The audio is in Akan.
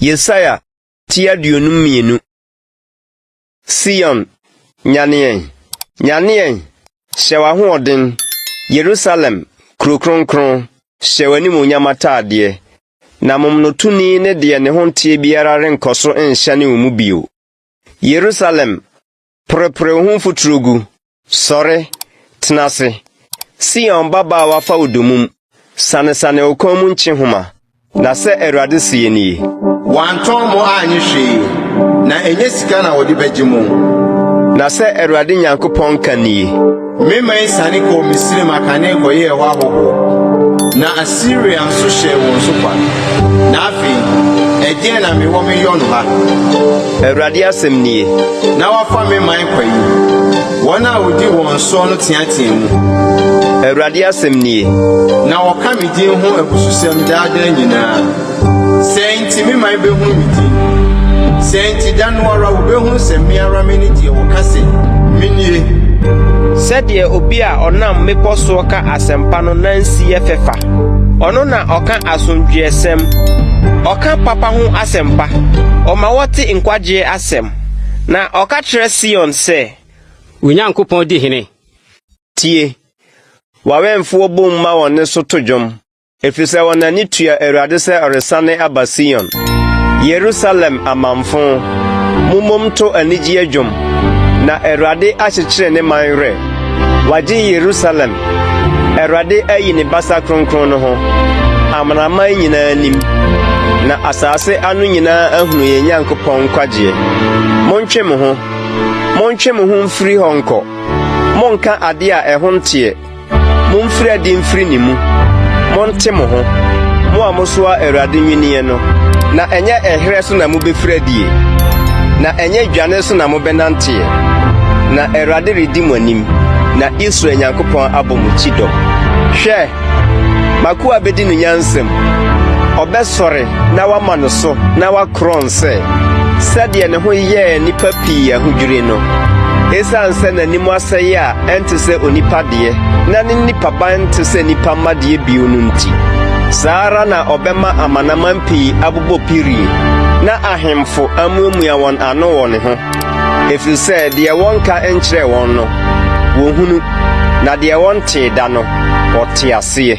Yesaia ti aduonu mmienu. Sion, nyaneɛn, nyaneɛn, hyɛ w'ahoɔden, Yerusalem, kuro kronkron, hyɛ w'animuonyam ataadeɛ, na momonotoni ne deɛ ne ho nteɛ biara renkɔ so nhyɛne wo mu bio. Yerusalem Porepore wo ho mfuturo gu. Sɔre, tena ase. Sion babaawa fa wo dommum. Sanesane wo kɔn mu nkyehoma. Na sɛ Awurade seɛ nie. Wɔantɔn mo annye hwee. Na ɛnyɛ sika na wɔde bɛgye mo. Na sɛ Awurade Nyankopɔn ka nie. Me man siane kɔɔ Misraim akane kɔyɛɛ hɔ ahɔhoɔ, na Asiria nso hyɛɛ wɔn so kwa. Na afei, ɛdeɛn na mewɔ meyɔ no ha? Awurade asɛm nie. Na wɔafa me man kwa yi. Wɔn a wɔdi wɔn soɔ no teatea mu. Awurade asɛm nie. Na wɔka me din ho abususɛm daa daa nyinaa. Sɛɛ nti me man bɛhunu me din. Sɛɛ nti da no ara wɔbɛhunu sɛ me ara mene deɛ wɔka sɛ menie. Sɛdeɛ obi a ɔnam mmepɔ soɔ ka asɛmpa no nansi yɛ fɛ fa, ɔno na ɔka asomdwoeɛsɛm. Ɔka papa ho asɛmpa, ɔma wɔte nkwagyeɛ asɛm, na ɔka kyerɛ Sion sɛ. Wo Nyankopɔn di hene! Tie! W'awɛmfoɔ bom ma wɔn nne so to dwom. Efisɛ wɔn ani tua Awurade sɛ ɔresane aba Sion. Yerusalem amamfo, mommom to anigyeɛ dwom, na Awurade akyekyere ne man werɛ. Wagye Yerusalem, Awurade ayi ne basa kronkron no ho. Amanaman nyinaa nim, na asase ano nyinaa ahunu yɛn Nyankopɔn nkwagyeɛ. Montwe mo ho, montwe mo ho mfiri hɔ nkɔ, monnka adeɛ a ɛho nteɛ. Mumfiri adi mfiri ne mu, monte mo ho, mo a mosoa Awurade nnwinneɛ no, na ɛnyɛ ɛherɛ so na mobɛfiri adie, na ɛnyɛ dwane so na mobɛnanteɛ, na Awurade redi mo anim, na Israel Nyankopɔn abɔ mo kyidɔm. Hwɛ, m'akoa bɛdi no nyansam, ɔbɛsɔre na wama no so na wakorɔn sɛ sɛdeɛ ne ho yɛɛ nnipa pii ahodwiri no, ɛsiane sɛ n'anim asɛeɛ a ɛnte sɛ onipa deɛ, na ne nipaban nte sɛ nnipa mma deɛ bio no nti, saa ara na ɔbɛma amanaman pii abobɔ pirie, na ahemfo amuamua wɔn ano wɔ ne ho. Ɛfiri sɛ deɛ wɔnka nkyerɛɛ wɔn no, wɔhunu, na deɛ wɔntee da no, wɔte aseɛ.